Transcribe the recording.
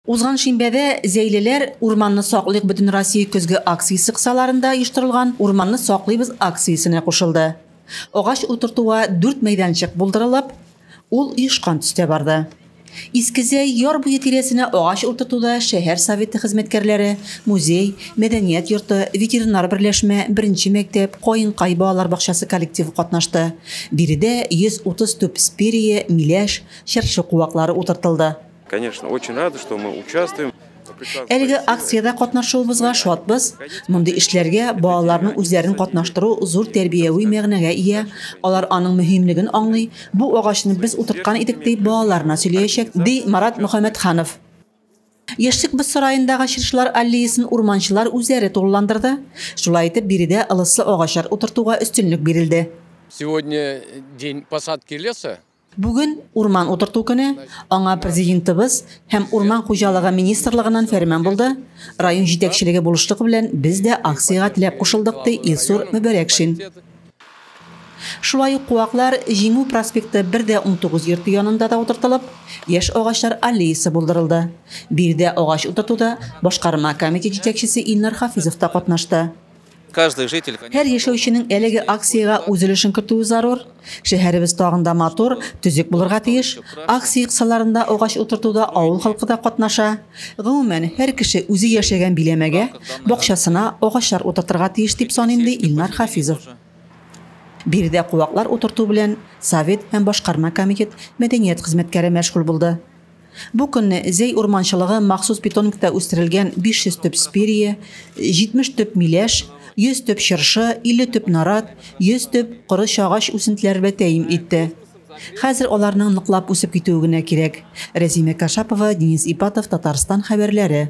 Узган шимбәдә Зәйлеләр, урманны саклыйк бөтенроссия көзге акциясе кысаларында оештырылган Урманны саклыйбыз акциясенә кушылды. Агач утыртуга дүрт мәйданчык булдырылып, ул оешкан төстә барды. Искезәй яр буе тирәсенә агач утыртуда шәһәр Советы хезмәткәрләре, музей, мәдәният йорты, ветеринар берләшмә, беренче мәктәп, Каенкай балалар бакчасы коллективы катнашты. Биредә 130 төп спирия, миләш, чыршы куаклары утыртылды. Конечно, очень рады, что мы участвуем. Әлеге акциядә катнашуыбызга шатбыз. Мондый эшләргә балаларның үзләрен катнаштыру зур тәрбияви мәгънәгә ия. Алар аның мөһимлеген аңлый. Бу агачны без утырткан идек дип балаларына сөйләячәк, ди Марат Мөхәммәтханов. Яшьлек без сараендагы чыршылар аллеясын урманчылар үзләре тулыландырды. Шулай итеп, биредә ылыслы агачлар утыртуга өстенлек бирелде. Сегодня день посадки леса. Бүген, урман утырту көне, аңа Президентыбыз һәм Урман хуҗалыгы министрлыгыннан фәрман булды, район җитәкчелеге булышлыгы белән без дә акциягә теләп кушылдык, ди Илсур Мөбәрәкшин. Шулай ук куаклар Җиңү проспекты 1 дә 19 йорты янында да утыртылып, яшь агачлар аллеясы булдырылды. Биредә агач утыртуда башкарма комитет җитәкчесе Илнар Хафизов та катнашты. Һәр яшәүченең әлеге акциягә үз өлешен кертүе зарур. Шәһәребез тагын да матур, төзек булырга тиеш. Акция кысаларында агач утыртуда авыл халкы да катнаша. Гомумән, һәр кеше үзе яшәгән биләмәгә, бакчасына агачлар утыртырга тиеш дип саныйм, ди Илнар Хафизов. Биредә куаклар утырту белән Совет һәм башкарма комитет мәдәният хезмәткәре мәшгуль булды. Бу көнне Зәй урманчылыгы махсус питомникта үстерелгән 500 төп спирия, 70 төп миләш, 100 төп чыршы, 50 төп нарат, 100 төп коры чагач үсентеләре белән тәэмин итте. Хәзер аларның ныклап үсеп китүе генә кирәк. Рәзимә Кашапова, Денис Ипатов, Татарстан хәбәрләре.